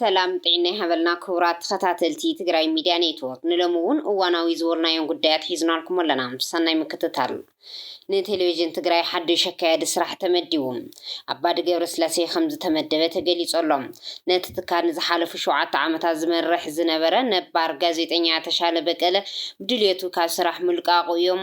ሰላም ጥዒና ይሃበልና ክቡራት ተኸታተልቲ ትግራይ ሚድያ ኔትዎርክ ንሎሚ እውን እዋናዊ ዝበልናዮም ጉዳያት ሒዝናልኩም ኣለና ሰናይ ምክትታል ንቴሌቭዥን ትግራይ ሓዱሽ ኣካያዲ ስራሕ ተመዲቡ ኣባዲ ገብረስላሴ ከምዝተመደበ ተገሊፁ ኣሎ ነቲ ትካል ንዝሓለፉ ሸውዓተ ዓመታት ዝመርሕ ዝነበረ ነባር ጋዜጠኛ ተሻለ በቀለ ብድልየቱ ካብ ስራሕ ምልቃቑ እዮም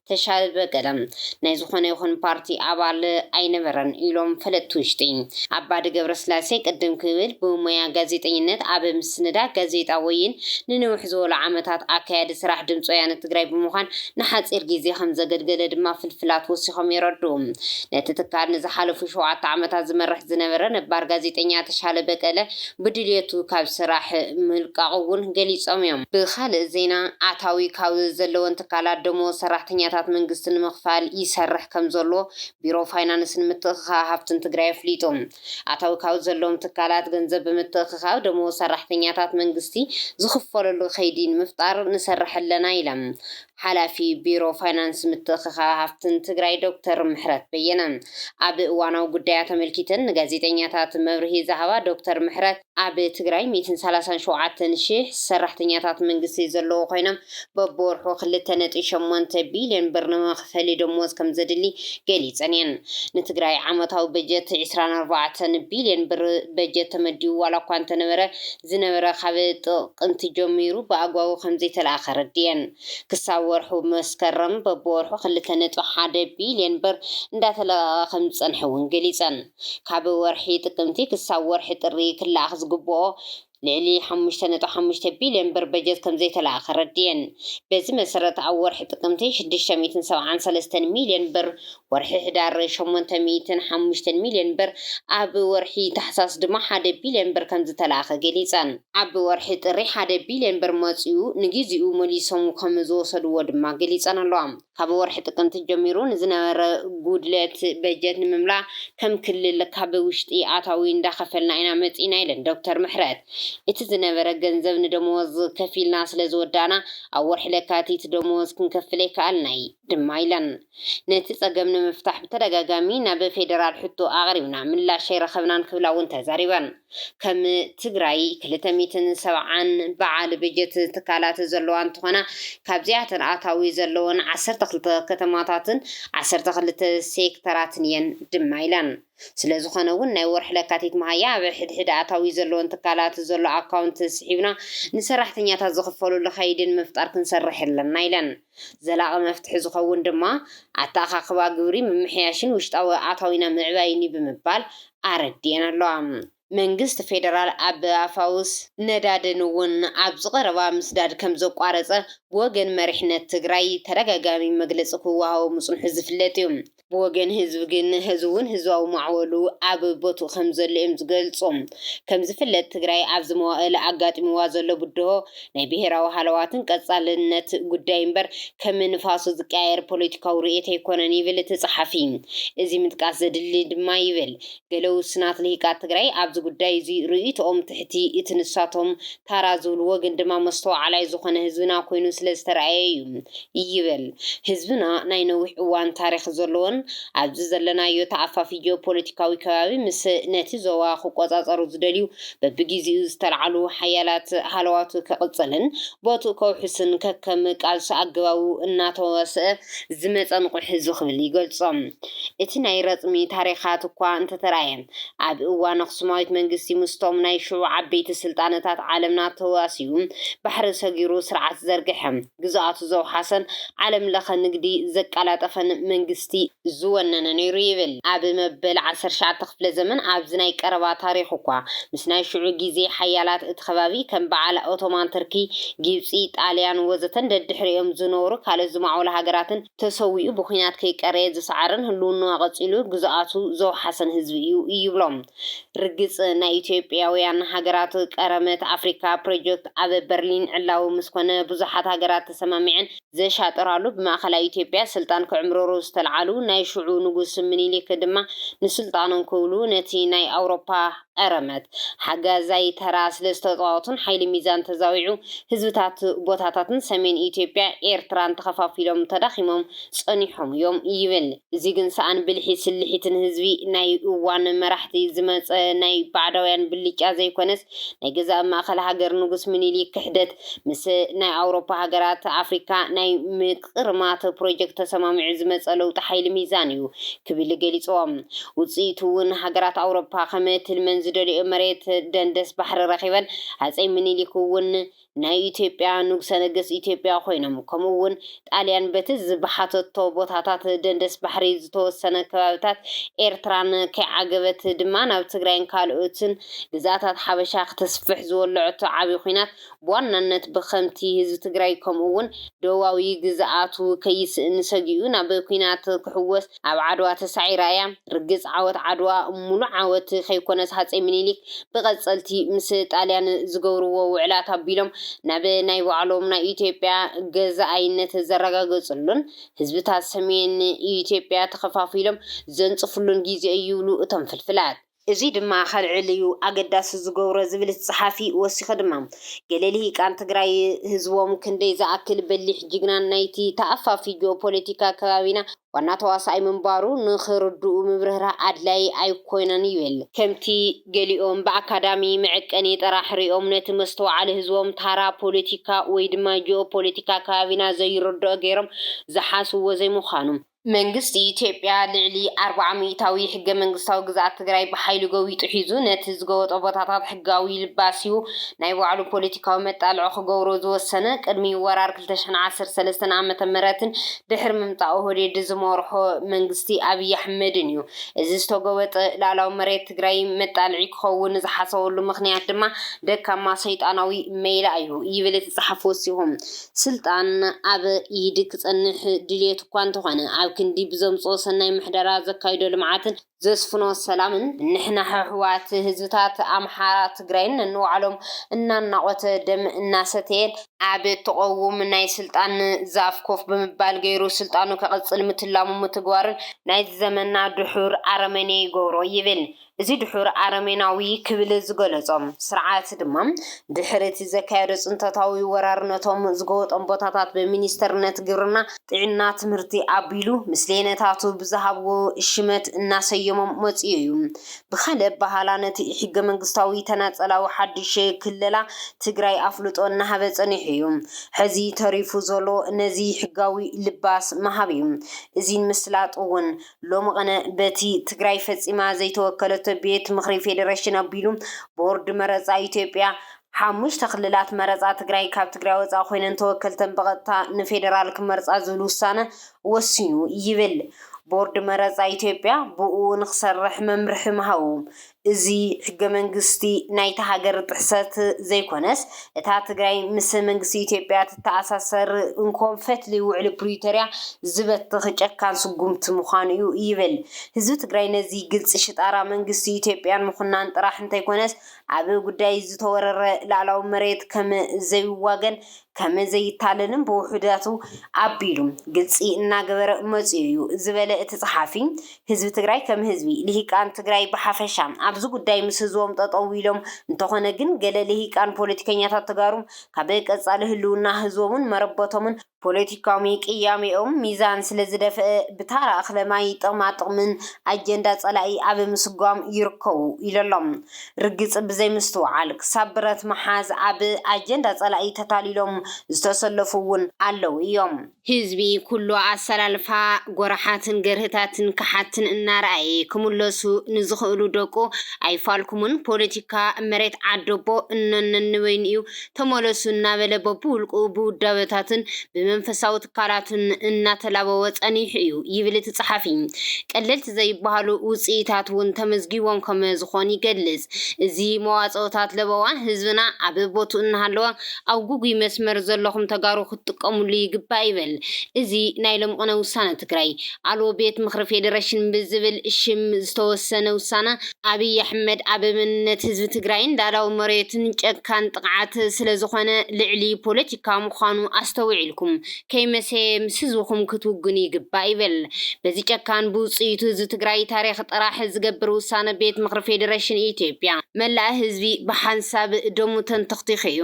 ተሻለ በቀለ ናይ ዝኾነ ይኹን ፓርቲ ኣባል ኣይነበረን ኢሎም ፈለጥቲ ውሽጢ። ኣባዲ ገብረስላሴ ቅድም ክብል ብሞያ ጋዜጠኝነት ኣብ ምስንዳእ ጋዜጣ ወይን ንንውሕ ዝበሉ ዓመታት ኣካያዲ ስራሕ ድምፂ ወያነ ትግራይ ብምዃን ንሓፂር ግዜ ከምዘገልገለ ድማ ፍልፍላት ወሲኾም የረድኡ። ነቲ ትካል ንዝሓለፉ ሸውዓተ ዓመታት ዝመርሕ ዝነበረ ነባር ጋዜጠኛ ተሻለ በቀለ ብድልየቱ ካብ ስራሕ ምልቃቑ እውን ገሊፆም እዮም። ብኻልእ ዜና ኣታዊ ካብ ዘለወን ትካላት ደሞዝ ሰራሕተኛታት መንግስቲ ንምኽፋል ይሰርሕ ከምዘሎ ቢሮ ፋይናንስን ምትእኽኻብ ሃፍትን ትግራይ ኣፍሊጡ። ኣታዊ ካብ ዘለዎም ትካላት ገንዘብ ብምትእኽኻብ ደሞዝ ሰራሕተኛታት መንግስቲ ዝኽፈለሉ ከይዲ ንምፍጣር ንሰርሕ ኣለና ኢላ ሓላፊ ቢሮ ፋይናንስ ምትእኽኻብ ሃፍትን ትግራይ ዶክተር ምሕረት በየነ ኣብ እዋናዊ ጉዳያት ኣመልኪተን ንጋዜጠኛታት መብርሂ ዝሃባ ዶክተር ምሕረት ኣብ ትግራይ ሚእትን ሰላሳን ሸውዓተን ሺሕ ሰራሕተኛታት መንግስቲ ዘለዉ ኮይኖም በብወርሑ ክልተ ነጥቢ ሸሞንተ ቢልዮን ብር ንመኽፈሊ ደሞዝ ከምዘድሊ ገሊፀን እየን። ንትግራይ ዓመታዊ በጀት ዕስራን ኣርባዕተን ቢልዮን ብር በጀት ተመዲቡ ዋላ እኳ እንተነበረ ዝነበረ ካብ ጥቕምቲ ጀሚሩ ብኣግባቡ ከምዘይተለኣኸ ኣረዲኤን። ክሳብ ወርሑ መስከረም በብወርሑ ክልተ ነጥቢ ሓደ ቢልየን ብር እንዳተለቐቐ ከምዝፀንሐ እውን ገሊፀን። ካብ ወርሒ ጥቅምቲ ክሳብ ወርሒ ጥሪ ክለኣኽ ዝግበኦ ልዕሊ ሓሙሽተ ነጥቢ ሓሙሽተ ቢልየን ብር በጀት ከምዘይተለኣኸ ኣረዲኤን። በዚ መሰረት ኣብ ወርሒ ጥቅምቲ ሽዱሽተ ሚእትን ሰብዓን ሰለስተን ሚልየን ብር ወርሒ ሕዳር ሸሞንተ ሚእትን ሓሙሽተን ሚልዮን ብር፣ ኣብ ወርሒ ታሕሳስ ድማ ሓደ ቢልዮን ብር ከምዝተላእከ ገሊፀን። ኣብ ወርሒ ጥሪ ሓደ ቢልዮን ብር መፂኡ ንግዚኡ መሊሶም ከምዝወሰድዎ ድማ ገሊፀን'ለዋ። ካብ ወርሒ ጥቅምቲ ጀሚሩ ንዝነበረ ጉድለት በጀት ንምምላእ ከም ክልል ካብ ውሽጢ ኣታዊ እንዳኸፈልና ኢና መፂእና ኢለን ዶክተር ምሕረት። እቲ ዝነበረ ገንዘብ ንደመወዝ ከፊልና ስለዝወዳእና ኣብ ወርሒ ለካቲት ደመወዝ ክንከፍል ኣይከኣልናይ ድማ ኢለን። ነቲ ፀገም ንምፍታሕ ብተደጋጋሚ ናብ ፌዴራል ሕቶ ኣቕሪብና ምላሽ ኣይረኸብናን ክብላ እውን ተዛሪበን። ከም ትግራይ ክልተ ሚእትን ሰብዓን በዓል በጀት ትካላት ዘለዋ እንትኾና ካብዚኣተን ኣታዊ ዘለወን ዓሰርተ ክልተ ከተማታትን ዓሰርተ ክልተ ሴክተራትን እየን ድማ ኢለን። ስለዝኾነ እውን ናይ ወርሒ ለካቲት መሃያ ኣብ ሕድሕድ ኣታዊ ዘለወን ትካላት ዘሎ ኣካውንት ስሒብና ንሰራሕተኛታት ዝኽፈሉሉ ከይዲ ንምፍጣር ክንሰርሕ ኣለና ኢለን። ዘላቒ መፍትሒ ዝኸውን ድማ ኣተኣኻኽባ ግብሪ ምምሕያሽን ውሽጣዊ ኣታዊና ምዕባይን እዩ ብምባል ኣረዲኤን ኣለዋ። መንግስቲ ፌደራል ኣብ ኣፋውስ ነዳድን እውን ኣብዚ ቀረባ ምስዳድ ከምዘቋረፀ ብወገን መሪሕነት ትግራይ ተደጋጋሚ መግለፂ ክወሃቦ ምፅንሑ ዝፍለጥ እዩ። ብወገን ህዝቢ ግን ሐዚ'ውን ህዝባዊ ማዕበሉ ኣብ ቦትኡ ከምዘሎ'ዮም ዝገልጹ። ከምዝፍለጥ ትግራይ ኣብዚ መዋእል ኣጋጢምዋ ዘሎ ብድሆ ናይ ብሄራዊ ሃለዋትን ቀጻልነት ጉዳይ እምበር ከም ንፋሱ ዝቀያየር ፖለቲካዊ ርእየት ኣይኮነን ይብል እቲ ጸሓፊ። እዚ ምጥቃስ ዘድሊ ድማ ይብል። ገለ ውሱናት ልሂቃት ትግራይ ኣብዚ ጉዳይ እዙይ ርእይቶኦም ትሕቲ እቲ ንሳቶም ታራ ዝብልዎ ግን ድማ መስተውዓላይ ዝኾነ ህዝብና ኮይኑ ስለ ዝተርኣየ እዩ ይብል። ህዝብና ናይ ነዊሕ እዋን ታሪኽ ዘለዎን ኣብዚ ዘለናዮ ተኣፋፊ ጂኦፖለቲካዊ ከባቢ ምስ ነቲ ዞባ ክቆፃፀሩ ዝደልዩ በቢጊዚኡ ዝተልዓሉ ሓያላት ሃለዋቱ ከቕፅልን ቦትኡ ከውሕስን ከከም ቃልሱ ኣገባቡ እናተዋስኣ ዝመፀ ንቑሕ ህዝቢ ክብል ይገልፆ። እቲ ናይ ረጽሚ ታሪኻት እኳ እንተተራእየ፣ ኣብ እዋን ኣኽሱማዊት መንግስቲ ምስቶም ናይ ሽዑ ዓበይቲ ስልጣነታት ዓለምና ተዋሲኡ ባሕሪ ሰጊሩ ስርዓት ዝዘርግሐ፣ ግዝኣቱ ዘውሓሰን ዓለም ለኸ ንግዲ ዘቀላጠፈን መንግስቲ ዝወነነ ነይሩ ይብል። ኣብ መበል ዓሰርተ ትሽዓተ ክፍለ ዘመን ኣብዚ ናይ ቀረባ ታሪኽ እኳ ምስ ናይ ሽዑ ግዜ ሓያላት እቲ ከባቢ ከም በዓል ኦቶማን ትርኪ፣ ጊብጺ፣ ጣልያን ወዘተን ደድሕሪኦም ዝነበሩ ካልኦት ዝማዕበሉ ሃገራትን ተሰዊኡ ብኩናት ከይቀረየ ዝሰዓረን ህልውንኡ ኣቐፂሉ ግዝኣቱ ዘውሓሰን ህዝቢ እዩ ይብሎም። ርግፅ ናይ ኢትዮጵያውያን ሃገራት ቀረመት ኣፍሪካ ፕሮጀክት ኣብ በርሊን ዕላዊ ምስ ኮነ ብዙሓት ሃገራት ተሰማሚዐን ዘሻጥራሉ ብማእኸላይ ኢትዮጵያ ስልጣን ክዕምርሩ ዝተልዓሉ ናይ ሽዑ ንጉስ ምኒሊክ ድማ ንስልጣኖም ክብሉ ነቲ ናይ ኣውሮፓ ቐረመት፣ ሓጋዛይ ተራ ስለዝተጻወቱን ሓይሊ ሚዛን ተዛዊዑ ህዝብታት ቦታታትን ሰሜን ኢትዮጵያ ኤርትራን ተኸፋፊሎም ተዳኺሞም ጸኒሖም እዮም ይብል። እዚ ግን ሰኣን ብልሒ ስልሒትን ህዝቢ ናይ እዋን መራሕቲ ዝመጸ ናይ ባዕዳውያን ብልጫ ዘይኮነስ ናይ ገዛእ ማእከል ሃገር ንጉስ ምኒሊክ ክሕደት ምስ ናይ ኣውሮፓ ሃገራት ኣፍሪካ ናይ ቕድሚ ኣቶ ፕሮጀክት ተሰማሚዑ ዝመፀ ለውጢ ሓይሊ ሚዛን እዩ ክብል ገሊፁዎ። ውፅኢቱ እውን ሃገራት ኣውሮፓ ከም ትልመን ዝደልየኦ መሬት ደንደስ ባሕሪ ረኺበን፣ ሃፀይ ምኒሊክ እውን ናይ ኢትዮጵያ ንጉሰ ነገስት ኢትዮጵያ ኮይኖም፣ ከምኡ እውን ጣልያን በቲ ዝብሓተቶ ቦታታት ደንደስ ባሕሪ ዝተወሰነ ከባቢታት ኤርትራን ከይዓገበት ድማ ናብ ትግራይን ካልኦትን ግዝኣታት ሓበሻ ክተስፍሕ ዝወለዐቶ ዓብዪ ኹናት ብዋናነት ብኸምቲ ህዝቢ ትግራይ ከምኡ እውን ደቡባዊ ግዝኣቱ ከይስእን ሰጊኡ ናብ ኲናት ክሕወስ ኣብ ዓድዋ ተሳዒራ እያ። ርግፅ ዓወት ዓድዋ ሙሉእ ዓወት ከይኮነስ ሃፀይ ሚኒሊክ ብቐፀልቲ ምስ ጣልያን ዝገብርዎ ውዕላት ኣቢሎም ናብ ናይ ባዕሎም ናይ ኢትዮጵያ ገዛኣይነት ዘረጋገፅሉን ህዝብታት ሰሜን ኢትዮጵያ ተኸፋፊሎም ዘንፅፍሉን ጊዜ እዩ ይብሉ እቶም ፍልፍላት። እዙይ ድማ ከልዕል እዩ ኣገዳሲ ዝገብሮ ዝብል እቲ ፀሓፊ ወሲኹ ድማ ገለ ልሂቃን ትግራይ ህዝቦም ክንደይ ዝኣክል በሊሕ ጅግናን ናይቲ ተኣፋፊ ጂኦፖለቲካ ከባቢና ዋና ተዋሳኣይ ምንባሩ ንኽርድኡ ምብርህራህ ኣድላዪ ኣይኮነን ይብል። ከምቲ ገሊኦም ብኣካዳሚ መዐቀኒ ጥራሕ ሪኦም ነቲ መስተውዓሊ ህዝቦም ታራ ፖለቲካ ወይ ድማ ጂኦፖለቲካ ከባቢና ዘይርድኦ ገይሮም ዝሓስብዎ ዘይምዃኑ፣ መንግስቲ ኢትዮጵያ ልዕሊ ኣርብዓ ሚኢታዊ ሕገ መንግስታዊ ግዝኣት ትግራይ ብሓይሊ ጎቢጡ ሒዙ ነቲ ዝጎበጦ ቦታታት ሕጋዊ ልባስዩ ናይ ባዕሉ ፖለቲካዊ መጣልዖ ክገብሮ ዝወሰነ ቅድሚ ወራር ክልተ ሽሕን ዓሰርተ ሰለስተን ዓመተ ምህረትን ድሕሪ ምምጻእ ኦህዴድ ዝመርሖ መንግስቲ ኣብይ ኣሕመድንዩ። እዚ ዝተጎበጠ ልኣላዊ መሬት ትግራይ መጣልዒ ክኸውን ዝሓሰበሉ ምኽንያት ድማ ደካማ ሰይጣናዊ መይላ'ዩ ይብል እቲ ጸሓፊ ወሲኹ። ስልጣን ኣብ ኢድ ክጸንሕ ድልየቱ እኳ እንተኾነ፣ ኣብ ክንዲ ብዘምጽኦ ሰናይ ምሕደራ፣ ዘካይዶ ልምዓትን ዘስፍኖ ሰላምን፣ ንሕና ሕሑዋት ህዝብታት ኣምሓራ ትግራይን ነንባዕሎም እናናቖተ ደም እናሰተየን፣ ኣብ ትቐውም ናይ ስልጣን ዛፍ ኮፍ ብምባል ገይሩ ስልጣኑ ከቕጽል ምትላሙ ምትግባሩን ናይዚ ዘመንና ድሑር ኣረመኔ ይገብሮ ይብል። እዚ ድሑር ኣረሜናዊ ክብል ዝገለጾ ስርዓት ድማ፣ ድሕሪ እቲ ዘካየዶ ጽንተታዊ ወራር ነቶም ዝገወጦም ቦታታት ብሚኒስተርነት ግብርና፣ ጥዕና፣ ትምህርቲ ኣቢሉ ምስሌነታቱ ብዝሃብዎ ሽመት እናሰየሞም መጺኡ እዩ። ብኻልእ ኣበሃህላ ነቲ ኢሕገመንግስታዊ ተናጸላዊ ሓድሽ ክለላ ትግራይ ኣፍልጦ እናሃበ ጸኒሑ እዩ። ሕዚ ተሪፉ ዘሎ ነዚ ሕጋዊ ልባስ ምሃብ እዩ። እዚን ምስላጥ እውን ሎሚ ቕነ በቲ ትግራይ ፈፂማ ዘይተወከለቶ ቤት ምኽሪ ፌዴሬሽን ኣቢሉ ቦርድ መረፃ ኢትዮጵያ ሓሙሽተ ክልላት መረፃ ትግራይ ካብ ትግራይ ወፃኢ ኮይነን ተወከልተን ብቐጥታ ንፌዴራል ክመርፃ ዝብል ውሳነ ወሲኑ ይብል ቦርድ መረፃ ኢትዮጵያ ብእኡ ንክሰርሕ መምርሒ ምሃቡ እዚ ሕገ መንግስቲ ናይታ ሃገር ጥሕሰት ዘይኮነስ እታ ትግራይ ምስ መንግስቲ ኢትዮጵያ ትተኣሳሰር እንኮ ፈትሊ ውዕሊ ፕሪቶርያ ዝበትኽ ጨካን ስጉምቲ ምዃኑ እዩ ይብል። ህዝቢ ትግራይ ነዚ ግልፂ ሽጣራ መንግስቲ ኢትዮጵያን ምኹናን ጥራሕ እንተይኮነስ ኣብ ጉዳይ ዝተወረረ ልኣላዊ መሬት ከም ዘይዋገን ከም ዘይታለልን ብውሑዳቱ ኣቢሉ ግልፂ እናገበረ መፂኡ እዩ ዝበለ እቲ ፀሓፊ፣ ህዝቢ ትግራይ ከም ህዝቢ፣ ልሂቃን ትግራይ ብሓፈሻ ኣብዚ ጉዳይ ምስ ህዝቦም ጠጠው ኢሎም፣ እንተኾነ ግን ገለ ልሂቃን ፖለቲከኛታት ተጋሩ ካብ ቀፃሊ ህልውና ህዝቦምን መረበቶምን፣ ፖለቲካዊ ቅያሜኦም ሚዛን ስለዝደፈኣ ብታራ እኽለ ማይ ጥቕማ ጥቕምን ኣጀንዳ ፀላኢ ኣብ ምስጓም ይርከቡ ኢሉ ኣሎ። ርግጽ ብዘይምስትውዓል ክሳብ ብረት ምሓዝ ኣብ ኣጀንዳ ጸላኢ ተታሊሎም ዝተሰለፉ እውን ኣለዉ እዮም። ህዝቢ ኩሉ ኣሰላልፋ ጎራሓትን ገርህታትን ከሓድትን እናረኣየ ክምለሱ ንዝኽእሉ ደቁ ኣይፋልኩሙን ፖለቲካ መሬት ዓደቦ እኖነኒ በይኑ እዩ ተመለሱ እናበለ በብውልቁ ብውዳበታቱን ብመንፈሳዊ ትካላቱን እናተላበወ ጸኒሑ እዩ ይብል እቲ ጸሓፊ። ቀለልቲ ዘይበሃሉ ውጽኢታት እውን ተመዝጊቦም ከመ ዝኾኑ ይገልጽ። እዚ መዋጽኦታት ለበዋ ህዝብና ኣብ ቦትኡ እናሃለወ ኣብ ጉጉይ መስመር ዘለኹም ተጋሩ ክትጥቀምሉ ይግባእ ይብል እዚ ናይ ሎምቕነ ውሳነ ትግራይ ኣልቦ ቤት ምኽሪ ፌደሬሽን ብዝብል ሽም ዝተወሰነ ውሳነ ኣብይ ኣሕመድ ኣብ መንነት ህዝቢ ትግራይን ላእላዊ መሬቱን ጨካን ጥቕዓት ስለዝኾነ ልዕሊ ፖለቲካ ምዃኑ ኣስተውዒልኩም ከይመሰየ ምስ ህዝብኹም ክትውግኑ ይግባእ ይብል በዚ ጨካን ብውፅኢቱ ህዝቢ ትግራይ ታሪኽ ጥራሕ ዝገብር ውሳነ ቤት ምኽሪ ፌዴሬሽን ኢትዮጵያ። መላእ ህዝቢ ብሓንሳብ ደሙ ተንተኽቲኹ እዩ።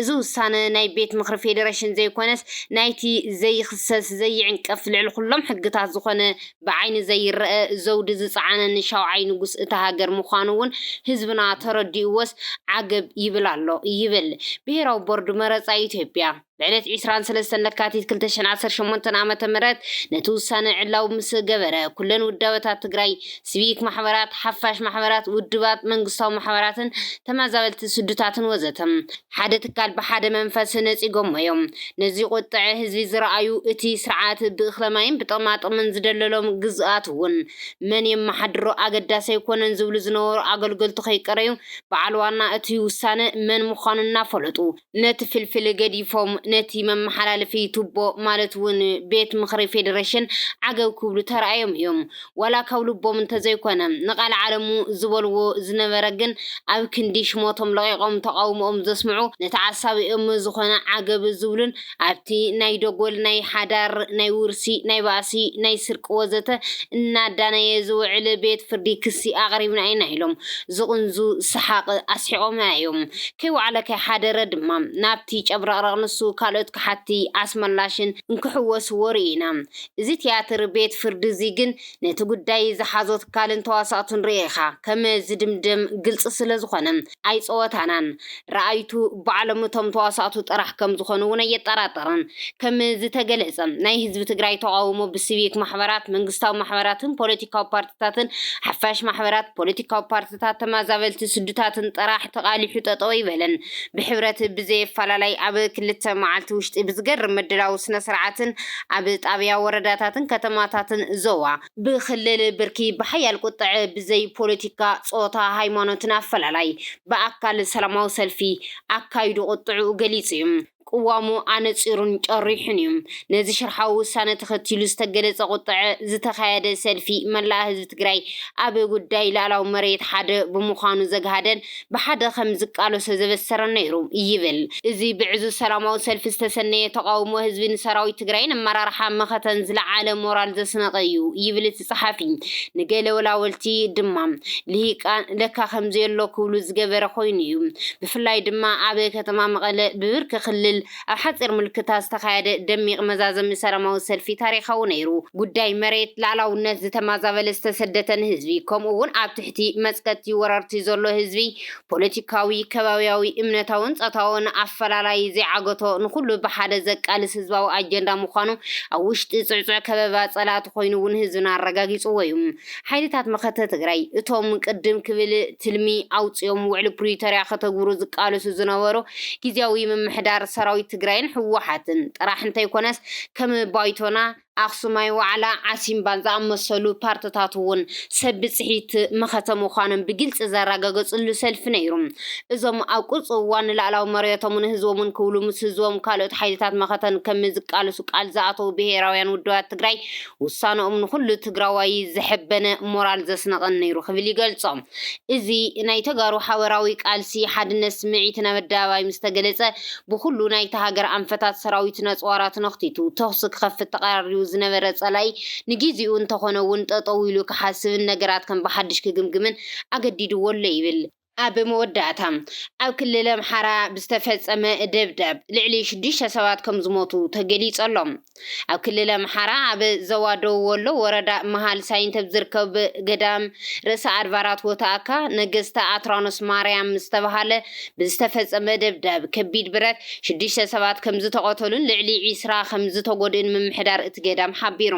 እዚ ውሳነ ናይ ቤት ምኽሪ ፌዴሬሽን ዘይኮነስ ናይቲ ዘይኽሰስ ዘይዕንቀፍ ልዕሊ ኩሎም ሕግታት ዝኾነ ብዓይኒ ዘይረኣ ዘውዲ ዝጸዓነ ንሻውዓይ ንጉስ እታ ሃገር ምዃኑ ውን ህዝብና ተረዲኡዎስ ዓገብ ይብል ኣሎ ይብል ብሄራዊ ቦርድ መረጻ ኢትዮጵያ ብዕለት ዕስራን ሰለስተን ለካቲት ክልተ ሽሕን ዓሰርተ ሸሞንተን ዓመተ ምህረት ነቲ ውሳነ ዕላዊ ምስ ገበረ ኩለን ውዳበታት ትግራይ ስቪክ ማሕበራት ሓፋሽ ማሕበራት ውድባት መንግስታዊ ማሕበራትን ተመዛበልቲ ስዱታትን ወዘተ ሓደ ትካል ብሓደ መንፈስ ነጺጎሞ እዮም ነዚ ቁጥዐ ህዝቢ ዝረኣዩ እቲ ስርዓት ብእኽለማይን ብጠማጥምን ዝደለሎም ግዝኣት እውን መን የመሓድሮ ኣገዳሲ ኣይኮነን ዝብሉ ዝነበሩ ኣገልገልቱ ከይቀረዩ በዓል ዋና እቲ ውሳነ መን ምዃኑ እናፈለጡ ነቲ ፍልፍል ገዲፎም ነቲ መመሓላለፊ ቱቦ ማለት እውን ቤት ምኽሪ ፌዴሬሽን ዓገብ ክብሉ ተራእዮም እዮም። ዋላ ካብ ልቦም እንተዘይኮነ፣ ንቃል ዓለሙ ዝበልዎ ዝነበረ ግን ኣብ ክንዲ ሽሞቶም ለቒቖም ተቓውሞኦም ዘስምዑ ንተዓሳቢኦም ዝኾነ ዓገብ ዝብሉን ኣብቲ ናይ ደጎል ናይ ሓዳር ናይ ውርሲ ናይ ባእሲ ናይ ስርቂ ወዘተ እናዳነየ ዝውዕል ቤት ፍርዲ ክሲ ኣቕሪብና ኢና ኢሎም ዝቕንዙ ሰሓቕ ኣስሒቖምና ኢዮም ከይወዓለ ከይሓደረ ድማ ናብቲ ጨብረቕረቕ ንሱ ካልኦት ከሓድቲ ኣስመላሽን እንክሕወስዎ ርኢና እዚ ትያትር ቤት ፍርዲ እዚ ግን ነቲ ጉዳይ ዝሓዞ ትካልን ተዋሳእቱን ርእኻ ከም ዝድምደም ግልጺ ስለ ዝኾነ ኣይጸወታናን። ረኣይቱ ባዕሎም እቶም ተዋሳእቱ ጥራሕ ከም ዝኾኑ እውን ኣየጠራጥርን። ከም ዝተገለጸ ናይ ህዝቢ ትግራይ ተቓውሞ ብሲቪክ ማሕበራት፣ መንግስታዊ ማሕበራትን ፖለቲካዊ ፓርቲታትን፣ ሓፋሽ ማሕበራት፣ ፖለቲካዊ ፓርቲታትን፣ ክስታት ተማዛበልቲ ስዱታትን ጥራሕ ተቓሊሑ ጠጠው ኣይበለን። ብሕብረት ብዘየፋላላይ ኣብ ክልተ መዓልቲ ውሽጢ ብዝገርም ምድላው ስነስርዓትን ኣብ ጣብያ ወረዳታትን ከተማታትን ዞባ፣ ብክልል ብርኪ ብሓያል ቁጥዐ ብዘይ ፖለቲካ፣ ፆታ፣ ሃይማኖትን ኣፈላላይ ብኣካል ሰላማዊ ሰልፊ ኣካይዱ ቁጥዕኡ ገሊፁ እዩ። ቅዋሙ ኣነጺሩን ጨሪሑን እዩ። ነዚ ሽርሓዊ ውሳነ ተኸቲሉ ዝተገለፀ ቁጠዐ ዝተኻየደ ሰልፊ መላእ ህዝቢ ትግራይ ኣብ ጉዳይ ልኣላዊ መሬት ሓደ ብምዃኑ ዘግሃደን ብሓደ ከም ዝቃለሶ ዘበሰረን ነይሩ ይብል። እዚ ብዕዙዝ ሰላማዊ ሰልፊ ዝተሰነየ ተቓውሞ ህዝቢ ንሰራዊት ትግራይን ኣመራርሓ መኸተን ዝለዓለ ሞራል ዘስነቐ እዩ ይብል እቲ ጸሓፊ ንገለ ወላወልቲ ድማ ልሂቃን ለካ ከምዚ ኣሎ ክብሉ ዝገበረ ኮይኑ እዩ። ብፍላይ ድማ ኣብ ከተማ መቐለ ብብርኪ ክልል ኣብ ሓጺር ምልክታ ዝተኻየደ ደሚቕ መዛዘሚ ሰላማዊ ሰልፊ ታሪኻዊ ነይሩ። ጉዳይ መሬት ላእላውነት ዝተማዛበለ ዝተሰደተን ህዝቢ ከምኡ እውን ኣብ ትሕቲ መጽቀቲ ወረርቲ ዘሎ ህዝቢ ፖለቲካዊ፣ ከባብያዊ፣ እምነታውን ጾታውን ኣፈላላይ ዘይዓገቶ ንኹሉ ብሓደ ዘቃልስ ህዝባዊ ኣጀንዳ ምዃኑ ኣብ ውሽጢ ጽዕጹዕ ከበባ ጸላእቲ ኮይኑ እውን ህዝብና ኣረጋጊጽዎ እዩ። ሓይልታት መኸተ ትግራይ እቶም ቅድም ክብል ትልሚ ኣውጺኦም ውዕሊ ፕሪቶርያ ከተግብሩ ዝቃለሱ ዝነበሩ ግዝያዊ ምምሕዳር ሰራዊት ትግራይን ህወሓትን ጥራሕ እንተይኮነስ ከም ባይቶና ኣኽሱማይ ዋዕላ ዓሲምባን ዝኣመሰሉ ፓርትታት እውን ሰብ ብፅሒት መኸተ ምዃኖም ብግልፂ ዘራገገፅሉ ሰልፊ ነይሩ። እዞም ኣብ ቁርፂ እዋን ንላእላዊ መርዮቶምን ህዝቦምን ክብሉ ምስ ህዝቦም ካልኦት ሓይልታት መኸተን ከምዝቃለሱ ቃል ዝኣተው ብሄራውያን ውድባት ትግራይ ውሳነኦም ንኹሉ ትግራዋይ ዘሐበነ ሞራል ዘስነቐን ነይሩ ክብል ይገልፆ። እዚ ናይ ተጋሩ ሓበራዊ ቃልሲ ሓድነት ስምዒት ናብ ኣደባባይ ምስ ተገለጸ፣ ብኹሉ ናይታ ሃገር ኣንፈታት ሰራዊት ነጽዋራ ትነኽቲቱ ተኹሲ ክኸፍት ተቐራሪቡ ዝነበረ ጸላኢ ንጊዚኡ እንተኾነ'ውን ጠጠው ኢሉ ክሓስብን ነገራት ከም ብሓድሽ ክግምግምን ኣገዲድዎ ኣሎ ይብል። ኣብ መወዳእታ፣ ኣብ ክልል ኣምሓራ ብዝተፈጸመ ደብዳብ ልዕሊ ሽዱሽተ ሰባት ከም ዝሞቱ ተገሊጹ ኣሎ። ኣብ ክልል ኣምሓራ ኣብ ዞባ ደቡብ ወሎ ወረዳ መሃል ሳይንት ኣብ ዝርከብ ገዳም ርእሰ ኣድባራት ወተኣካ ነገስታ ኣትራኖስ ማርያም ዝተባሃለ ብዝተፈጸመ ደብዳብ ከቢድ ብረት ሽዱሽተ ሰባት ከም ዝተቐተሉን ልዕሊ ዒስራ ከም ዝተጎድእን ምምሕዳር እቲ ገዳም ሓቢሩ።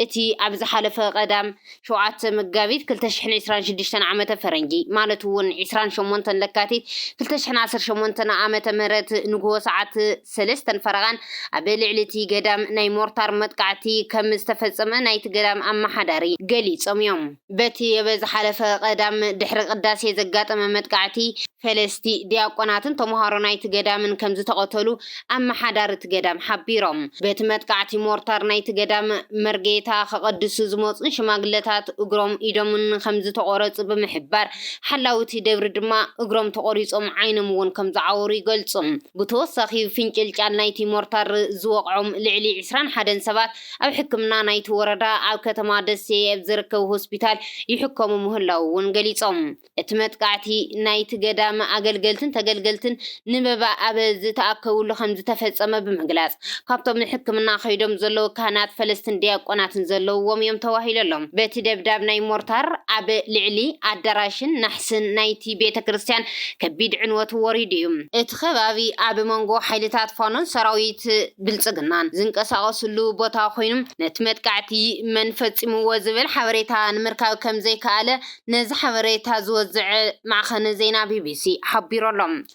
እቲ ኣብ ዝሓለፈ ቀዳም ሸውዓተ መጋቢት ክልተ ሽሕን ዕስራን ሽዱሽተን ዓመተ ፈረንጂ ማለት እውን ዕስራን ሸሞንተን ለካቲት ክልተ ሽሕን ዓሰርተ ሸሞንተን ዓመተ ምህረት ንግሆ ሰዓት ሰለስተን ፈረቓን ኣብ ልዕሊ እቲ ገዳም ናይ ሞርታር መጥቃዕቲ ከም ዝተፈጸመ ናይቲ ገዳም ኣመሓዳሪ ገሊጾም እዮም። በቲ ኣብ ዝሓለፈ ቀዳም ድሕሪ ቅዳሴ ዘጋጠመ መጥቃዕቲ፣ ፈለስቲ፣ ዲያቆናትን ተመሃሮ ናይቲ ገዳምን ከም ዝተቐተሉ ኣመሓዳሪ እቲ ገዳም ሓቢሮም። በቲ መጥቃዕቲ ሞርታር ናይቲ ገዳም መርጌታ ከቐድሱ ዝመጹን ሽማግለታት እግሮም ኢዶምን ከም ዝተቖረጹ ብምሕባር፣ ሓላዊ እቲ ደብሪ ድማ እግሮም ተቖሪጾም ዓይኖም እውን ከም ዝዓወሩ ይገልጹ። ብተወሳኺ ፍንጭልጫል ናይቲ ሞርታር ዝወቕዖም ልዕሊ ዕስራን ሓደን ሰባት ኣብ ሕክምና ናይቲ ወረዳ ኣብ ከተማ ደሴ ኣብ ዝርከብ ሆስፒታል ይሕከሙ ምህላዉ እውን ገሊጾም። እቲ መጥቃዕቲ ናይቲ ገዳም ኣገልገልትን ተገልገልትን ንመባእ ኣብ ዝተኣከብሉ ከምዝተፈጸመ ብምግላጽ፣ ካብቶም ንሕክምና ከይዶም ዘለዉ ካህናት ፈለስትን ዲያቆናትን ዘለዉዎም እዮም ተባሂሉ ኣሎ። በቲ ደብዳብ ናይ ሞርታር ኣብ ልዕሊ ኣዳራሽን ናሕስን ስም ናይቲ ቤተ ክርስቲያን ከቢድ ዕንወት ወሪዱ እዩ። እቲ ከባቢ ኣብ መንጎ ሓይልታት ፋኖን ሰራዊት ብልጽግናን ዝንቀሳቐስሉ ቦታ ኮይኑ፣ ነቲ መጥቃዕቲ መን ፈጺምዎ ዝብል ሓበሬታ ንምርካብ ከምዘይከኣለ ነዚ ሓበሬታ ዝወዘዐ ማዕኸን ዜና ቢቢሲ ሓቢሩ ኣሎ።